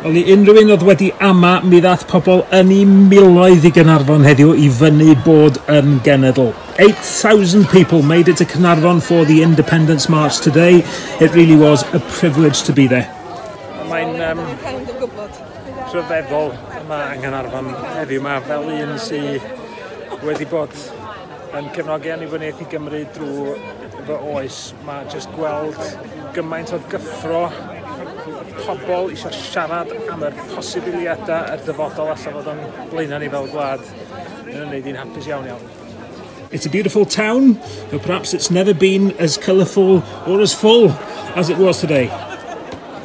Wel i unrhyw un oedd wedi ama, mi ddath pobl yn i miloedd i Gaernarfon heddiw i fyny bod yn genedl. 8,000 people made it to Caernarfon for the Independence March today. It really was a privilege to be there. Mae'n um, rhyfeddol yma yng Nghanarfon heddiw yma fel un sydd wedi bod yn cefnogi annibyniaeth i Gymru drwy fy oes Mae jyst gweld gymaint o gyffro, pobl isio siarad am yr posibiliadau a'r dyfodol allan fod o'n blaenau ni fel gwlad yn ymwneud i'n hapus iawn iawn. It's a beautiful town, though perhaps it's never been as colourful or as full as it was today.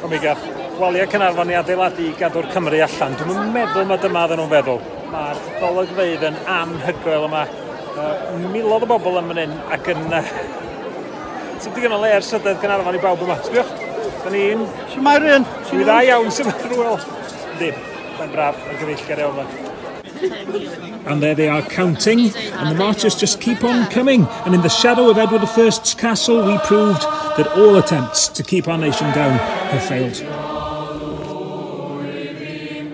O mi gath waliau Cynarfon i adeiladu i gadw'r Cymru allan. Dwi'n meddwl mae dyma oedden nhw'n feddwl. Mae'r golygfeydd yn anhygoel yma. milodd o bobl yn fan hyn ac yn... Uh, Ti'n digon o le ar sydedd Gaernarfon i bawb yma. Sbiwch, da ni'n... Sut mae rhywun? Dwi'n dda iawn, sut mae rhywun? Yndi, mae'n braf ar gyfeillgar iawn yma. And there they are counting, and the marchers just keep on coming. And in the shadow of Edward I's castle, we proved that all attempts to keep our nation down have failed.